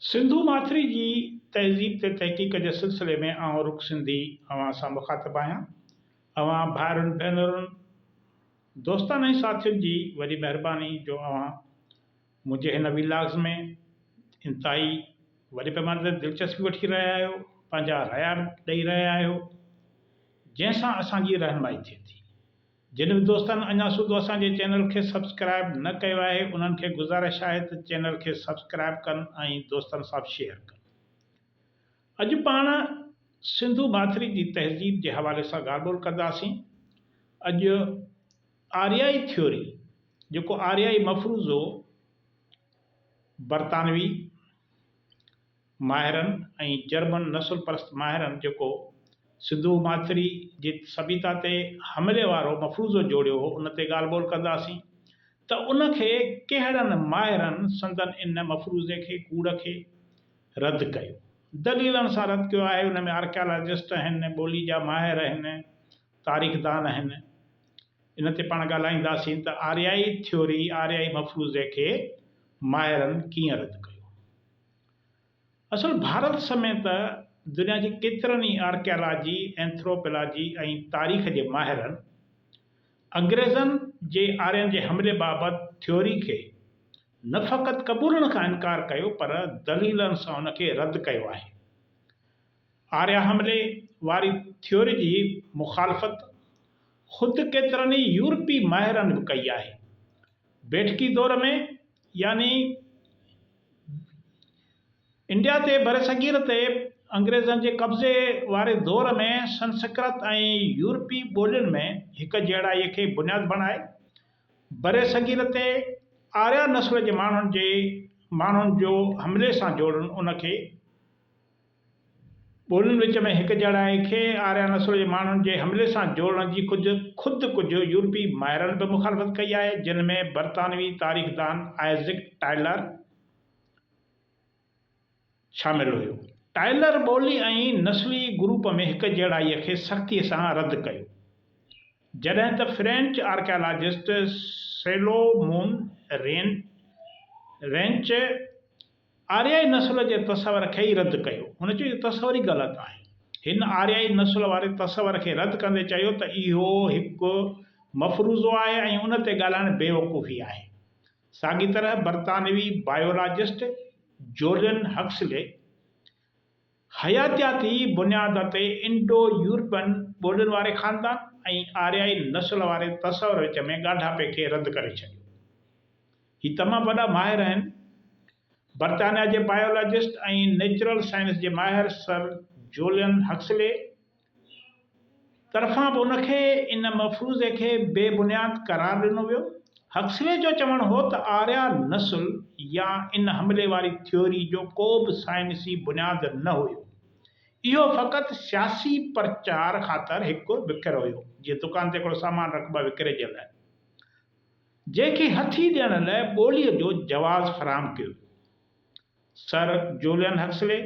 سنڌو ماٿري جي تهذيب تي تحقيق جي سلسلي ۾ آئون رڪ سنڌي اوهان سان مخاطب آهيان. اوهان ڀائرن ڀينرن، دوستن ۽ ساٿين جي وڏي مهرباني جو اوهان منهنجي هن ويلاگز ۾ انتهائي وڏي پيماني تي دلچسپي وٺي رهيا آهيو، پنهنجا ريا ڏئي رهيا آهيو، جنهن سان اسان جي رهنمائي ٿئي ٿي. جن به دوستن اڃا سوڌو اسان جي چينل کي سبسڪرائب نه ڪيو آهي انهن کي گذارش آهي ته چينل کي سبسڪرائب ڪن ۽ دوستن سان به شيئر ڪن. اڄ پاڻ سنڌو ماٿري جي تهذيب جي حوالي سان ڳالهه ٻولهه ڪنداسين. اڄ آريائي ٿيوري جيڪو آريائي مفروضو برطانوي ماهرن ۽ جرمن نسل پرست ماهرن جيڪو سنڌو ماٿري جي سڀيتا تي حملي وارو مفروضو جوڙيو هو ان تي ڳالهه ٻولهه ڪنداسين ته ان کي ڪهڙن ماهرن سندن ان مفروضي کي ڪوڙ کي رد ڪيو دليلن سان رد ڪيو آهي ان ۾ آرڪيالاجسٽ اهن ٻولي جا ماهر اهن تاريخدان اهن ان تي پاڻ ڳالهائينداسين ته آريائي ٿيوري آريائي مفروضي کي ماهرن ڪيئن رد ڪيو. اصل ڀارت سميت دنيا جي ڪيترن ئي آرڪيالاجي، اينٿروپيلاجي ۽ تاريخ جي ماهرن انگريزن جي آرين جي حملي بابت ٿيوري کي نه فقط قبولڻ کان انڪار ڪيو پر دليلن سان ان کي رد ڪيو آهي. آريا حملي واري ٿيوري جي مخالفت خود ڪيترن ئي يورپي ماهرن به ڪئي آهي. بيٺڪي دور ۾ يعني انڊيا تي برصغير تي انگريزن جي قبضي واري دور ۾ سنسڪرت ۽ يورپي ٻولين ۾ هڪ جهڙائي کي بنياد بڻائي برصغير تي آريا نسل جي ماڻهن جي ماڻهن جو حملي سان جوڙڻ ان کي ٻولين وچ ۾ هڪجهڙائي کي آريا نسل جي ماڻهن جي حملي سان جوڙڻ جي خود ڪجهه يورپي ماهرن به مخالفت ڪئي آهي، جن ۾ برطانوي تاريخدان آئزڪ ٽائلر شامل هيو. ٽائلر ٻولي ۽ نسلي گروپ ۾ هڪجهڙائي کي سختي سان رد ڪيو، جڏهن ته فرينچ آرڪيالاجسٽ سيلومون رينچ، آريائي نسل جي تصور کي ئي رد ڪيو. هن چيو اهو تصور ئي غلط آهي. هن آريائي نسل واري تصور کي رد ڪندي چيو ته اهو هڪ مفروضو آهي ۽ ان تي ڳالهائڻ بيوقوفي آهي. ساڳي طرح برطانوي بائيولاجسٽ جولين هڪسلي حياتياتي بنياد تي انڊو يورپين ٻولين واري خاندان ۽ آريائي نسل واري تصور وچ ۾ ڳانڍاپي کي رد ڪري ڇڏيو. هي تمام وڏا ماهر آهن. برطانيا جي بائيولاجسٽ ۽ نيچرل سائنس جي ماهر سر جولين هڪسلي، طرفان به ان کي ان مفروضي کي بي بنياد قرار ڏنو ويو. هڪسلي جو چوڻ هو ته آريا نسل يا ان حملي واري ٿيوري جو ڪو به سائنسي بنياد نه هيو. اهو فقط سياسي پرچار خاطر هڪ وڪر هيو، جيئن دڪان تي هڪڙو سامان رکبو آهي وڪري جي لاء، جنهن کي هٿي ڏيڻ لاء ٻوليء جو جواز فراهم ڪيو ويو. سر جولين هڪسلي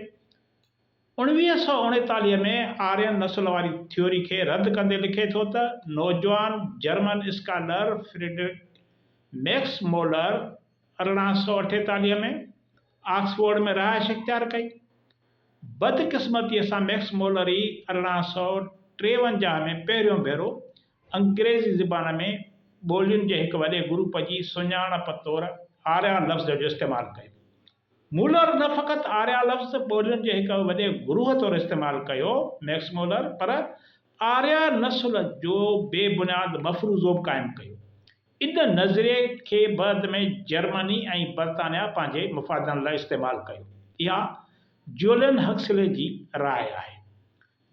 اڻويهه سؤ اڻيتاليهه ۾ آرين نسل واري ٿيوري کي رد ڪندي لکي ٿو ته نوجوان German scholar Friedrich Max Muller ارڙهن سؤ اٺيتاليهه ۾ آڪسفورڊ ۾ رهائش اختيار ڪئي. بدقسمتيء سان ميڪس مولر ئي ارڙهن سؤ ٽيونجاهه ۾ پهريون ڀيرو انگريزي زبان ۾ ٻولين جي هڪ وڏي گروپ جي سڃاڻپ طور آريان لفظ جو استعمال ڪيو. مولر نه فقط آريا لفظ ٻولين جي هڪ وڏي گروهه طور استعمال ڪيو، مئڪس مولر، پر آريا نسل جو بي بنياد مفروضو به قائم ڪيو. ان نظريي کي بعد ۾ جرمني ۽ برطانيا پنهنجي مفادن لاء استعمال ڪيو. اها جولين هڪسلي جي راء آهي.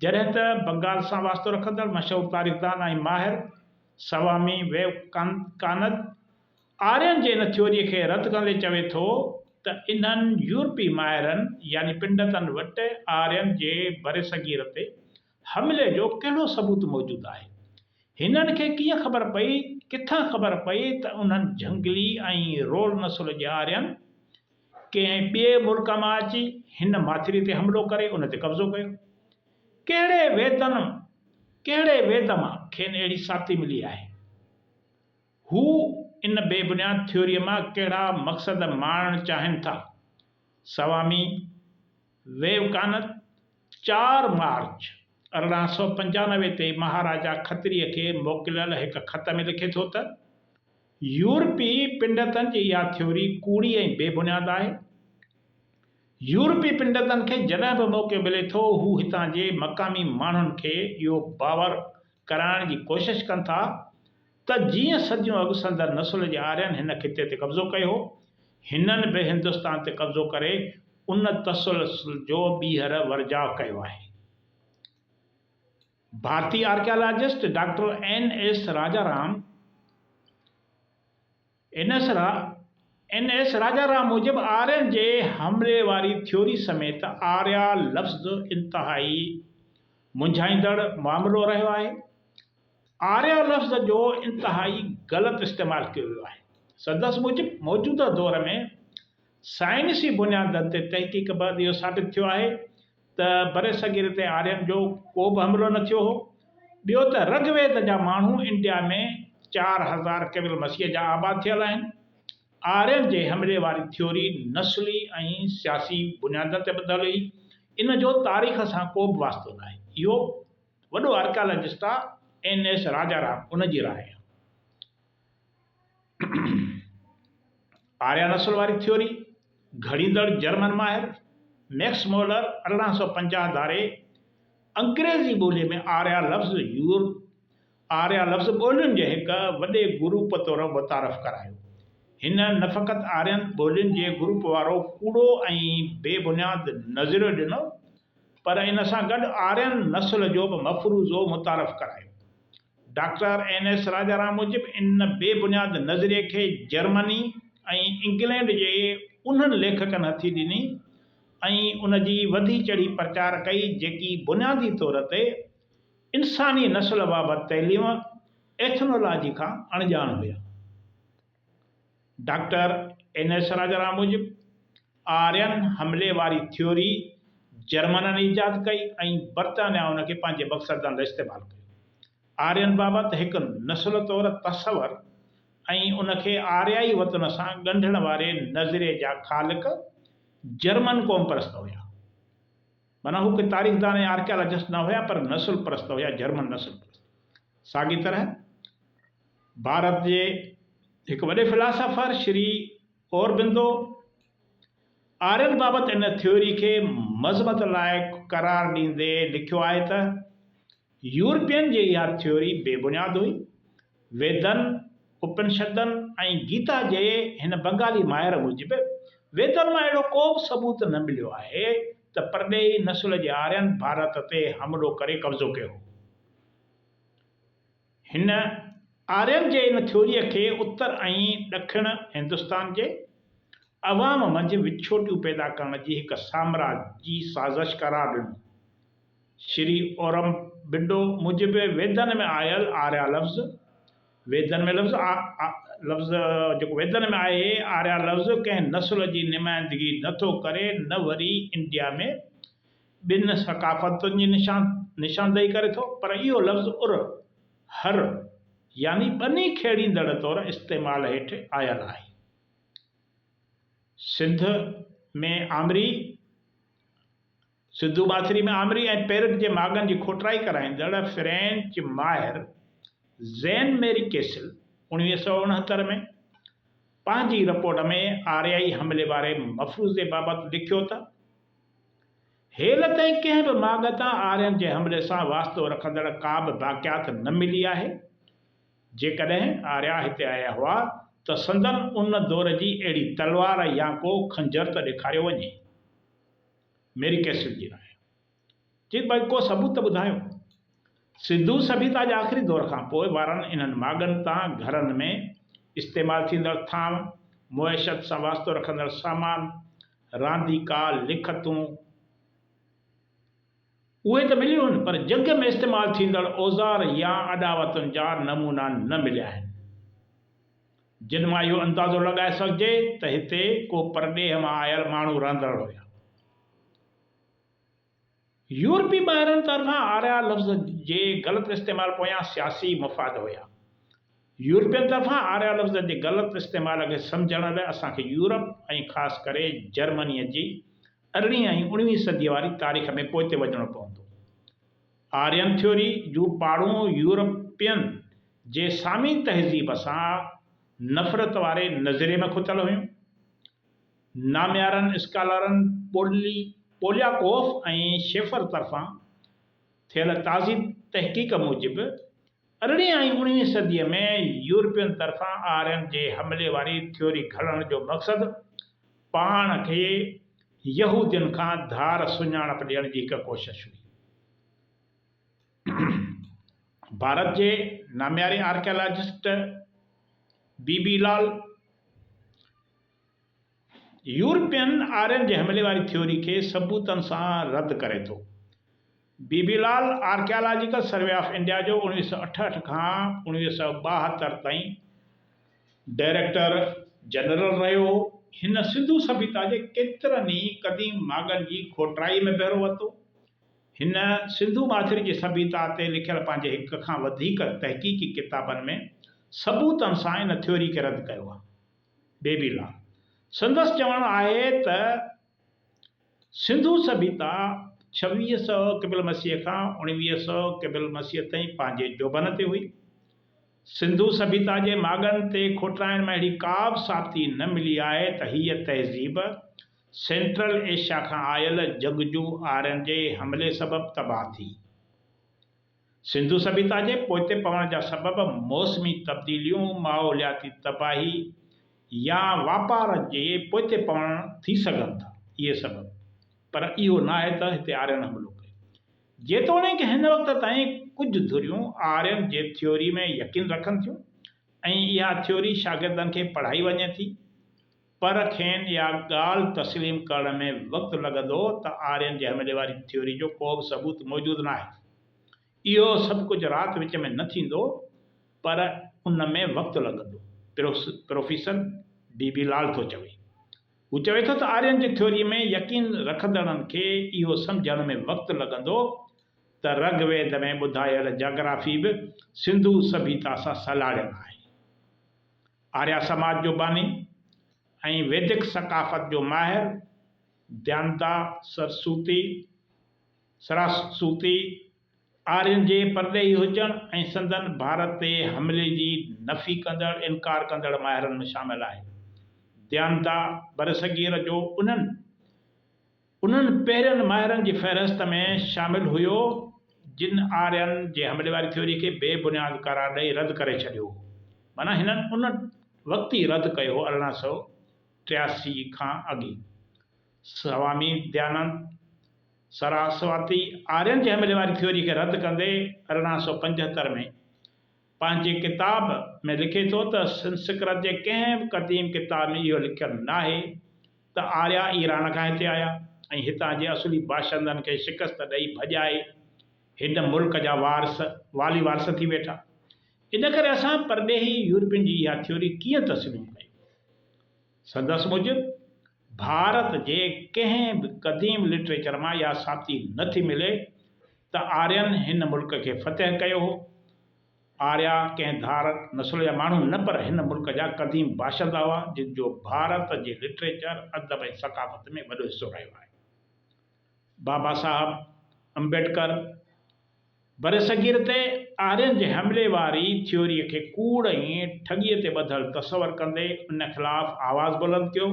جڏهن ته بنگال سان واسطو رکندڙ مشهور تاريخدان ۽ ماهر سوامي ويوڪانند آرين جي ان ٿيوريء کي رد ڪندي چوي ٿو ته انهن يورپي ماهرن يعني پنڊتن وٽ آرين جي برصغير تي حملي جو ڪهڙو ثبوت موجود آهي؟ هنن کي ڪيئن خبر پئي، ڪٿان خبر پئي ته انهن جهنگلي ۽ رول نسل جي آرين ڪنهن ٻئي ملڪ مان اچي هن ماٿري تي حملو ڪري ان تي قبضو ڪيو؟ ڪهڙي ويدن، ڪهڙي ويد مان کين اهڙي ثابتي ملي آهي؟ هو ان بي بنياد ٿيوريء مان ڪهڙا مقصد ماڻڻ چاهين ٿا؟ سوامي ويوڪانند چار مارچ ارڙهن سؤ پنجانوي تي مهاراجا کتريء کي موڪليل هڪ خط ۾ لکي ٿو ته، يورپي پنڊتن جي اها ٿيوري ڪوڙي ۽ بي بنياد آهي. يورپي پنڊتن کي جڏهن به موقعو ملي ٿو، هو هتان جي مقامي ماڻهن کي اهو باور ڪرائڻ جي ڪوشش ڪن ٿا، ته جيئن صديون اڳ سندن نسل جي آرين هن خطي تي قبضو ڪيو هو، هنن به هندستان تي قبضو ڪري ان تسلسل جو ٻيهر ورجاء ڪيو آهي. ڀارتي archaeologist doctor N S Raja Ram, N S را اين ايس راجا رام موجب آرين جي حملي واري ٿيوري سميت آريا لفظ انتهائي منجهائيندڙ معاملو رهيو آهي. آريا لفظ جو انتهائي غلط استعمال ڪيو ويو آهي. سندس موجب موجوده دور ۾ سائنسي بنيادن تي تحقيق بعد اهو ثابت ٿيو آهي ته برصغير تي آرين جو ڪو به حملو نه ٿيو هو. ٻيو ته رگ ويد جا ماڻهو انڊيا ۾ چار هزار قبل مسيح جا آباد ٿيل آهن. آرين جي حملي واري ٿيوري نسلي ۽ سياسي بنيادن تي ٻڌل هئي. ان جو تاريخ سان ڪو به واسطو ناهي. اهو وڏو آرڪيالاجسٽ آ اين ايس راجارام ان جي راء آ. آريا نسل واري ٿيوري، گهڙيندڙ جرمن ماهر ميڪس مولر ارڙهن سؤ پنجاهه ڌاري انگريزي ٻوليء ۾ آريا لفظ يور آريا لفظ ٻولين جي هڪ وڏي گروپ طور متعارف ڪرايو. هن نه فقط آرين ٻولين جي گروپ وارو ڪوڙو ۽ بي بنياد نظريو ڏنو، پر ان سان گڏ آرين نسل جو به مفروضو متعارف ڪرايو. ڊاڪٽر اين ايس راجارام موجب ان بي بنياد نظريي کي جرمني ۽ انگلينڊ جي انهن ليکڪن هٿي ڏني ۽ ان جي وڌي چڙهي پرچار ڪئي جيڪي بنيادي طور تي انساني نسل بابت تعليم، ايٿنولاجي، کان اڻڄاڻ هيا. ڊاڪٽر اين ايس راجارام موجب، آرين حملي واري ٿيوري جرمنن ايجاد ڪئي ۽ برطانيا ان کي پنهنجي مقصد لاء استعمال ڪيو. آرين بابت هڪ نسل طور تصور ۽ ان کي آريائي وطن سان ڳنڍڻ واري نظريي جا خالق جرمن قوم پرست هيا. معنيٰ هو ڪي تاريخدان ۽ آرڪيالاجسٽ نه هيا پر نسل پرست هيا، جرمن نسل پرست. ساڳي طرح. ڀارت جي هڪ وڏي فلاسافر شري اوربندو آرين بابت ان ٿيوري کي مذمت لائق قرار ڏيندي لکيو آهي ته، يورپين جي اها ٿيوري بي بنياد هئي. ويدن، اپنشدن ۽ گيتا جي هن بنگالي ماهر موجب، ويدن مان اهڙو ڪو به ثبوت نه مليو آهي ته پرڏيهي نسل جي آرين ڀارت تي حملو ڪري قبضو ڪيو هو. هن آرين جي ان ٿيوريء کي اتر ۽ ڏکڻ هندستان جي عوام منجهه وڇوٽيون پيدا ڪرڻ جي هڪ سامراجي سازش قرار ڏنو. شري اورمبنڊو موجب ويدن ۾ آيل آريا لفظ، ويدن ۾ لفظ، لفظ جيڪو ويدن ۾ آهي، آريا لفظ ڪنهن نسل جي نمائندگي نه ٿو ڪري نه وري انڊيا ۾ ٻن ثقافتن جي نشاندهي ڪري ٿو، پر اهو لفظ ار، هر، يعني ٻني کيڙيندڙ طور استعمال هيٺ آيل آهي. سنڌ ۾ آمري، سنڌو ماٿري ۾ آمري ۽ پيرڪ جي ماڳن جي کوٽرائي ڪرائيندڙ فرينچ ماهر زين ميري ڪيسل اوڻويهه سؤ اڻهتر ۾ پنهنجي رپورٽ ۾ آريائي حملي واري مفروضي بابت لکيو ته، هيل تائين ڪنهن به ماڳ تان آرين جي حملي سان واسطو رکندڙ ڪا به باقيات نه ملي آهي. جيڪڏهن آريا هتي آيا هئا ته سندن ان دور جي اهڙي تلوار يا ڪو خنجر ته ڏيکاريو وڃي. ميري ڪيسل جي راء. جي ڀائي ڪو ثبوت ته ٻڌايو. سنڌو سڀيتا جي آخري دور کان پوء وارن انهن ماڳن تان گهرن ۾ استعمال ٿيندڙ ٿانو، معيشت سان واسطو رکندڙ سامان، رانديڪا، لکتون، اهي ته مليون آهن پر جڳ ۾ استعمال ٿيندڙ اوزار يا اڏاوتن جا نمونا نه مليا آهن. جن مان اهو اندازو لڳائي سگهجي ته هتي ڪو پرڏيهه مان آيل ماڻهو رهندڙ هيا. يورپي ماهرن طرفان آريا لفظ جي غلط استعمال پويان سياسي مفاد هيا. يورپين طرفان آريا لفظ جي غلط استعمال کي سمجهڻ لاء اسان کي يورپ ۽ خاص ڪري جرمنيء جي ارڙهين ۽ اڻويهين صديء واري تاريخ ۾ پوئتي وڃڻو پوندو. آرين ٿيوري جون پاڙون يورپين جي سامي تهذيب سان نفرت واري نظريي ۾ کتل هيون. ناميارن اسڪالرن پولي پولياڪوف ۽ شيفر طرفان ٿيل تازي تحقيق موجب، ارڙهين ۽ اڻويهين صديء ۾ يورپين طرفان آرين جي حملي واري ٿيوري گهڙڻ جو مقصد پاڻ کي يهودين کان ڌار سڃاڻپ ڏيڻ جي هڪ ڪوشش هئي. ڀارت جي نامياري archaeologist B B Lal, European Aryan جي حملي واري ٿيوري کي ثبوتن سان رد ڪري ٿو. B B Lal archaeological survey of India جو اوڻويهه سؤ اٺهٺ کان اوڻويهه سؤ ٻاهتر تائين ڊائريڪٽر جنرل رهيو هو. هن سنڌو سڀيتا جي ڪيترن ئي قديم ماڳن جي کوٽرائي ۾ بهرو ورتو. هن سنڌو ماٿري جي سڀيتا تي لکيل پنهنجي هڪ کان وڌيڪ تحقيقي ڪتابن ۾ ثبوتن سان ان ٿيوري کي رد ڪيو آهي. بيبي لا. سندس چوڻ آهي ته سنڌو سڀيتا ڇويهه سؤ قبل مسيح کان اڻويهه سؤ قبل مسيح تائين پنهنجي جوڀن تي هئي. سنڌو سڀيتا جي ماڳن تي کوٽرائن مان اهڙي ڪابه ثابتي نه ملي آهي ته هيء تهذيب سينٽرل ايشيا کان آيل جنگجو آرين جي حملي سبب تباهه ٿي. سنڌو سڀيتا جي پوئتي پوڻ جا سبب موسمي تبديليون، ماحولياتي تباهي يا واپار جي پوئتي پوڻ ٿي سگهن ٿا. اهي سبب پر اهو ناهي ته هتي آرين حملو ڪيو. جيتوڻيڪ هن وقت تائين ڪجهه ڌريون آرين جي ٿيوري ۾ يقين رکن ٿيون ۽ اها ٿيوري شاگردن کي پڙهائي وڃي ٿي، پر کين اها ڳالهه تسليم ڪرڻ ۾ وقت لڳندو ته آرين جي هملي واري ٿيوري جو ڪو به ثبوت موجود ناهي. اهو سڀ ڪجهه رات وچ ۾ نه ٿيندو، پر ان ۾ وقت لڳندو، پروفيسر بي بي لال ٿو چوي. هو چوي ٿو ته آرين جي ٿيوريء ۾ يقين رکندڙن کي اهو سمجهڻ ۾ وقت لڳندو ته رگ ويد ۾ ٻڌايل جاگرافي به سنڌو سڀيتا سان سلهاڙيل آهي. آريا سماج جو باني ۽ ويدڪ ثقافت جو ماهر ديانتا سرسوتي، Saraswati، آرين جي پرڏيهي هجڻ ۽ سندن ڀارت تي حملي جي نفي ڪندڙ، انڪار ڪندڙ، ماهرن ۾ شامل آهي. ديانتا برصغير جو انهن انهن پهرين ماهرن جي فهرست ۾ شامل هيو جن آرين جي حملي واري ٿيوري کي بي بنياد قرار ڏئي رد ڪري ڇڏيو هو. معنيٰ هنن ان وقت ئي رد ڪيو هو ارڙهن سؤ ٽياسي کان اڳ ئي. سوامي ديانند سراسواتي آرين جي حملي واري ٿيوري کي رد ڪندي ارڙهن سؤ پنجهتر ۾ پنهنجي ڪتاب ۾ لکي ٿو ته سنسڪرت جي ڪنهن به قديم ڪتاب ۾ اهو لکيل ناهي ته آريا ايران کان هتي آيا ۽ هتان جي اصلي باشندن کي شڪست ڏئي ڀڄائي هن ملڪ جا وارث والي وارث ٿي ويٺا. ان ڪري اسان پرڏيهي يورپين جي اها ٿيوري ڪيئن تسليم ڪيون؟ سندس موجب، ڀارت جي ڪنهن به قديم لٽريچر مان اها ثابتي نه ٿي ملي ته آرين هن ملڪ کي فتح ڪيو هو. آريا ڪنهن ڌارڪ نسل جا ماڻهو نه پر هن ملڪ جا قديم باشندا هئا جن جو ڀارت جي لٽريچر، ادب ۽ ثقافت ۾ وڏو حصو رهيو آهي. بابا صاحب امبيڊڪر برصغير تي آرين جي حملي واري ٿيوريء کي ڪوڙ ۽ ٺڳيء تي ٻڌل تصور ڪندي ان خلاف آواز بلند ڪيو.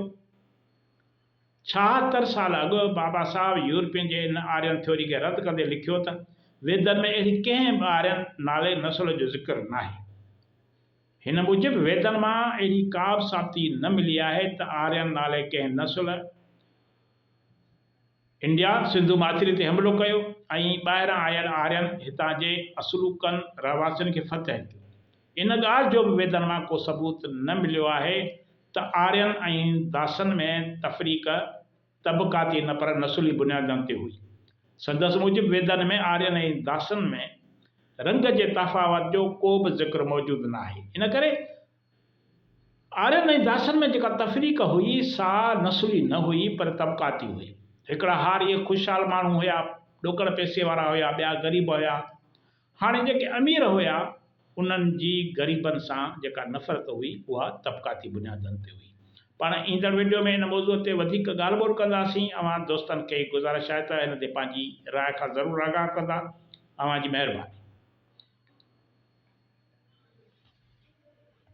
ڇاهتر سال اڳ بابا صاحب يورپين جي ان آرين ٿيوري کي رد ڪندي لکيو ته، ويدن ۾ اهڙي ڪنهن به آرين نالي نسل جو ذڪر ناهي. هن موجب ويدن مان اهڙي ڪابه ثابتي نه ملي آهي ته آرين نالي ڪنهن نسل، انڊيا سنڌو ماٿري تي حملو ڪيو ۽ ٻاهران آيل آرين هتان جي اصلوڪن رهواسين کي فتح ڪيو. ان ڳالهه جو به ويدن مان ڪو ثبوت نه مليو آهي ته آرين ۽ داسن ۾ تفريق طبقاتي نه پر نسلي بنيادن تي هئي. سندس موجب ويدن ۾ آرين ۽ داسن ۾ رنگ جي تفاوت جو ڪو به ذڪر موجود ناهي. ان ڪري آرين ۽ داسن ۾ جيڪا تفريق هئي، سا نسلي نه هئي، پر طبقاتي هئي. هڪڙا هاريء خوشحال ماڻهو هيا، ڏوڪڙ پئسي وارا هيا، ٻيا غريب هيا. هاڻي جيڪي امير هيا، انهن جي غريبن سان جيڪا نفرت هئي، اها طبقاتي بنيادن تي هئي. پاڻ ايندڙ وڊيو ۾ ان موضوع تي وڌيڪ ڳالهه ٻولهه ڪنداسين. اوهان دوستن کي گذارش آهي ته ان تي پنهنجي راء کان ضرور آگاهه ڪندا. اوهان جي مهرباني.